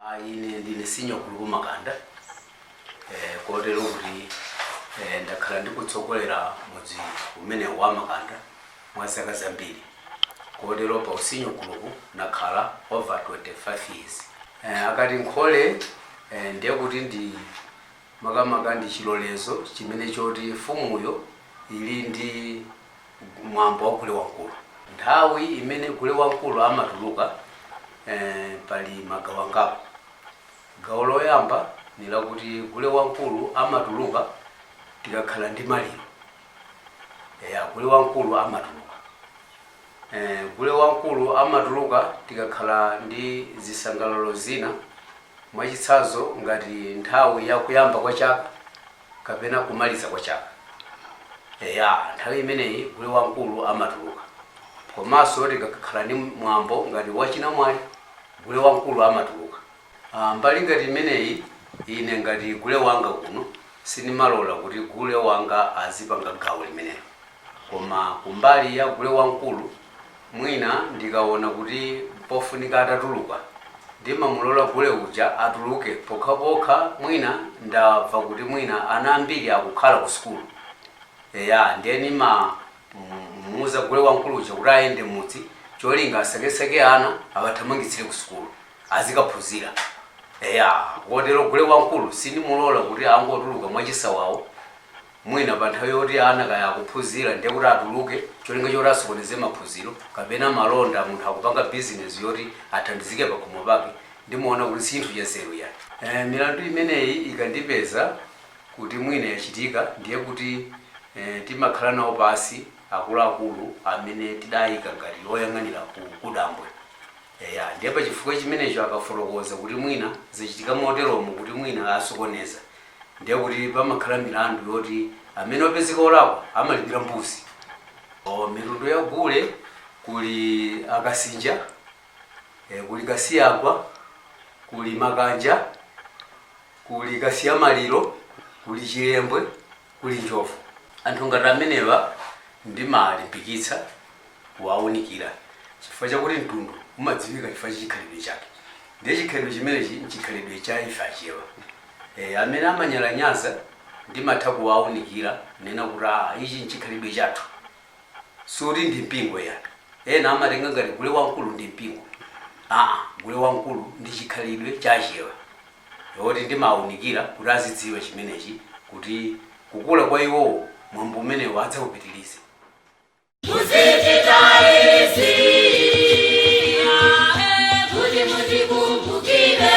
Ayi ine ndine senior gulupu makanda eh, kotero kuti eh, ndakhala ndikutsogolera mudzi umene wa makanda mwa zaka zambiri kotero pa usenior gulupu nakhala over 25 years eh, akati nkhole eh, ndiye kuti ndi makamaka ndi chilolezo chimene choti mfumuyi ili ndi mwambo wa gule wamkulu. Nthawi imene gule wamkulu amatuluka eh, pali magawo angapo. Gawo loyamba ni lakuti gule wamkulu amatuluka tikakhala ndi maliro. Eya, gule wamkulu amatuluka. Eh, gule wamkulu amatuluka tikakhala ndi zisangalalo zina mwachitsanzo ngati nthawi ya kuyamba kwa chaka kapena kumaliza kwa chaka. Eya, nthawi imeneyi gule wamkulu amatuluka. Komanso tikakhala ndi mwambo ngati wachinamwali, gule wamkulu amatuluka. Ah, mbali ngati imeneyi, ine ngati gule wanga kuno, sindimalola kuti gule wanga azipanga gawo limenelo. Koma kumbali ya gule wamkulu, mwina ndikaona kuti mpofunika atatuluka, ndimamulola gule uja atuluke pokhapokha mwina ndamva kuti mwina ana ambiri akukhala ku sukulu. Eya, ndiye ndimamuuza gule wamkulu uja kuti ayende m'mudzi cholinga asakesake ana awathamangitsire ku sukulu, azikaphunzira. Eya, kotero gule wamkulu sindimulola kuti angotuluka mwachisawawa. mwina pa nthawi yoti ana kaya akuphunzira ndiye kuti atuluke cholinga choti asokoneze maphunziro kapena malonda munthu akupanga bizinezi yoti athandizike pakhomo pake ndimaona kuti sichinthu chanzeru iyayi eh, milandu imeneyi ikandipeza kuti mwina yachitika ndiye kuti eh, timakhala nawo pansi akuluakulu amene tidayika ngati oyang'anira kudambwe Eya, ndiye pa chifukwa chimenecho akafotokoza kuti mwina zachitika moteromo kuti mwina asokoneza, ndiye kuti pamakhala milandu yoti amene wapezeka olakwa amalipira mbuzi. Oh, mitundu ya gule kuli a Kasinja, eh, kuli Kasiyagwa, kuli Makanja, kuli Kasiyamaliro, kuli Chilembwe. kuli njovu. Anthu ngati amenewa ndimalimbikitsa kuwaunikira chifukwa chakuti mtundu umadziwika chifukwa cha chikhalidwe chake ndiye chikhalidwe chimenechi nchikhalidwe cha ife Achewa. E, amene amanyalanyaza ndimatha kuwaunikira kunena kuti aa ichi nchikhalidwe chathu. sikuti ndi mpingo ya. Ena amatenga ngati gule wamkulu ndi mpingo aa gule wamkulu ndi chikhalidwe cha achewa. Ndiye oti ndimawaunikira kuti azidziwa chimenechi kuti kukula kwa iwowo mwambo umenewu adzaupitilize. Muzichita izi kuti mundikumbukire.